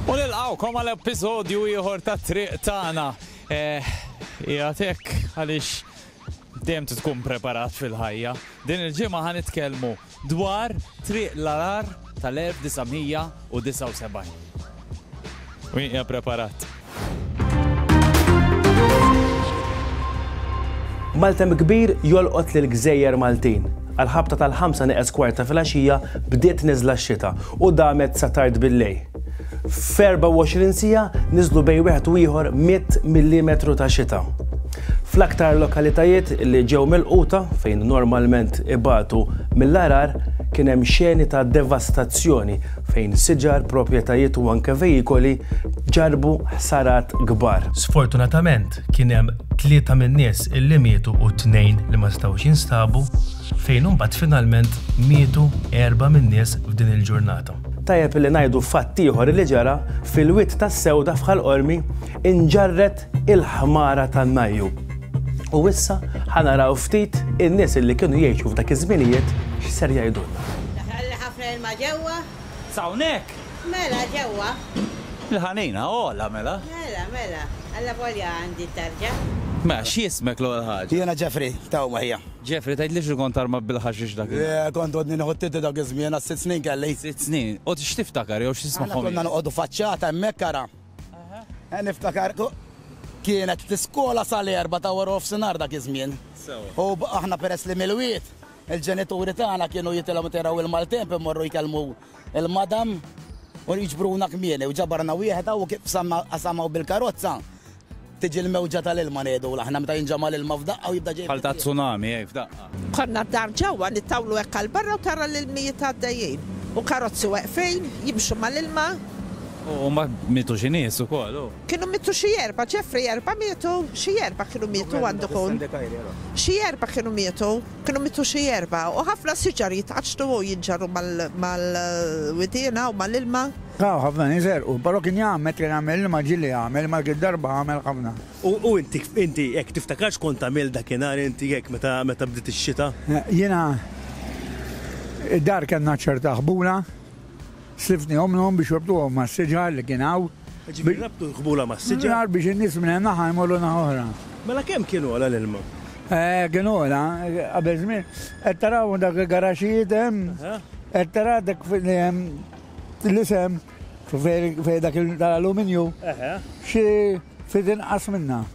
U nilqgħukom għal episodju ieħor ta' Triq Tagħna. Eh, qiegħed hekk għaliex dejjem tkun preparat fil-ħajja. Din il-ġimgħa ħa nitkellmu dwar triq l-arar tal-1979. U hija preparat. Maltem kbir jolqot lil gżejjer Maltin. Għall-ħabta tal-ħamsa neqes kwart ta' filgħaxija bdiet niżla x-xita u damet sa tard billejl. F'24 siegħa niżlu bejn wieħed u ieħor 100 millimetru ta' xita. Fl-aktar lokalitajiet li ġew milquta, fejn normalment ibatu mill-għargħar, kien hemm xeni ta' devastazzjoni fejn siġar, proprjetajiet u anke vejikoli ġarrbu ħsarat kbar. Sfortunatament, kien hemm tlieta min-nies illi mietu u tnejn li ma setgħux jinstabu, fejn imbagħad finalment mietu erba' min-nies f'din il-ġurnata. Tajjeb illi ngħidu fatt ieħor illi ġara, fil-Wied tas-Sewda f'Ħal Qormi nġarret il-ħmara tan-Najju. U issa ħa naraw ftit in-nies illi kienu jgħixu f'dak iż-żminijiet x'ser jgħidulna. L-ilma ġewwa? S'hawnhekk? Mela, ġewwa. Il-ħanina ogħla, mela? Mela, mela. Allavolja għandi t-tarġa. Mela, x'jismek l-ewwel ħaġa? Jiena Ġefri, ta' hawn ħija. Ġefri, tgħidlix li kont armat bil-ħaxix dakinhar? Le, kont għodni nieħu t-tietti dak iż-żmien, għad sitt snin kelli. Sitt snin. U x'tiftakar jew x'tismagħhom jgħidu? Aħna konna noqogħdu faċċata hemmhekk ara. Niftakar kienet l-iskola sal-erbgħa ta' wara nofsinhar dak iż-żmien. Sewwa. U aħna peress li Milwiet, Il-ġenituri tagħna kienu jitilgħu meta jraw il-maltemp imorru jkellmu l-madam u jiġbruna kmieni u ġabarna wieħed hawn u kif qsamna qasam hawn bil-karozza tiġi l-mewġa tal-ilma ngħidula aħna meta jinġama' l-ilma f'daqqa u jibda ġej. Bħal ta' tsunami hekk f'daqqa. Konna d-dar ġewwa nitawlu hekk għal barra u tara l-ilmijiet għaddejjin u karozzi weqfin jimxu mal-ilma. U mbagħad mietu xi nies ukoll u. Kienu mietu xi erba', Jeffrey erba' mietu, xi erba' kienu mietu għandu jkun. Xi erba' kienu mietu, kienu mietu xi erba', u ħafna siġar jitqaċċtu u jinġarru mal-widiena u mal-ilma. Ah, u ħafna nies għerqu. Però kien jgħammed, kien jagħmel l-ilma ġieli jagħmel, imma dik id-darba għamel ħafna. U inti, inti hekk tiftakar x'kont tagħmel dakinhar inti hekk meta, meta bdiet ix-xita? Jiena, id-dar kellna ċerta ħbula. Sliftni ommnhom biex jorbtuhom mas-siġar li kien hawn. Ġifieri rabtu l-qbula mas-siġar? Nar biex in-nies minn naħa jmorru naħa oħra. Mela kemm kien għola l-ilma? Kien għola qabel żmien. Qed tara hawn dawk il-garaxxijiet hemm? Qed tara dak li hemm l-isem fejn dak tal-aluminju? Xi ftit inqas minnha.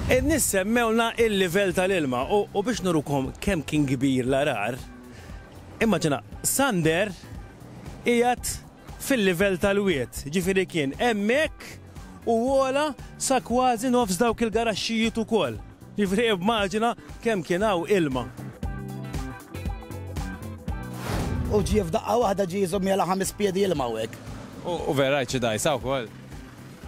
In-nies semmewlna l-livell tal-ilma u biex nurukom kemm kien kbir l-għarar, Immaġina Sander qiegħed fil-livell tal-wied, jiġifieri kien hemmhekk u għola sa kważi nofs dawk il-garaxxijiet ukoll. Jiġifieri immaġina kemm kien hawn ilma. U ġie f'daqqa waħda ġie jżomm jagħla ħames piedi ilma hawnhekk. U vera rajt xi dgħajsa wkoll.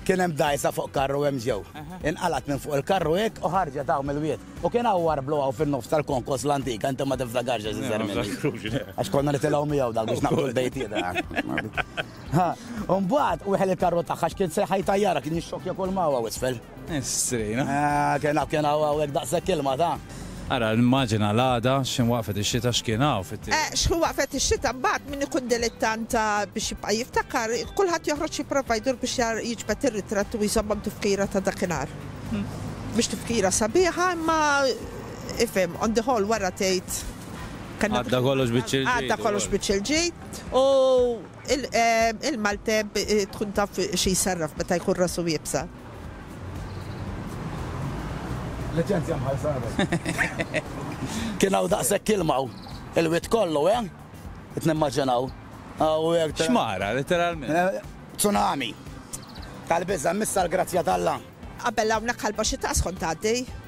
Kien hemm dgħajsa fuq karru hemm ġew. Inqalgħet minn fuq il-karru hekk u ħarġet hawn mill-wied. U kien hawn warblu hawn fin-nofs tal-konkos l-antika, inti ma tiftakarx għax iżgħar minni. Għax konna nitilgħu miegħu dak biex naqbdu l-bejtietna. Imbagħad weħel il-karru tagħha għax kien sejħa jtajjarha, kien jixxokkja kull ma hawn isfel. Strejna. Kena kena għawek daqsek kilma ta. Ara nimmaġina l-għada x'ħin waqfet ix-xita x'kien hawn fit-tim. Eh x'ħin waqfet ix-xita mbagħad min ikun dilittanta biex jibqa' jiftakar kulħadd joħroġ jipprova jdur biex jiġbed ir-ritratt u jżommok tifkira ta' dakinhar. Mhix tifkira sabiħa imma ifhem on the whole wara tgħid kellna. Għadda kollox biċċ il-ġid. Għadda kollox biċċ il-ġid u il-Malteb tkun taf xi jsarraf meta jkun rasu iebsa. Liċenzja mħallsa qabel. Kien hawn daqshekk ilma hawn. Il-wied kollu, eh? Qed nimmaġinaw. Xmara, letteralment. Tsunami. Tal-biża', missa l-grazzja t'Alla. Qabel hawnhekk ħalba xi taqs kont tgħaddi.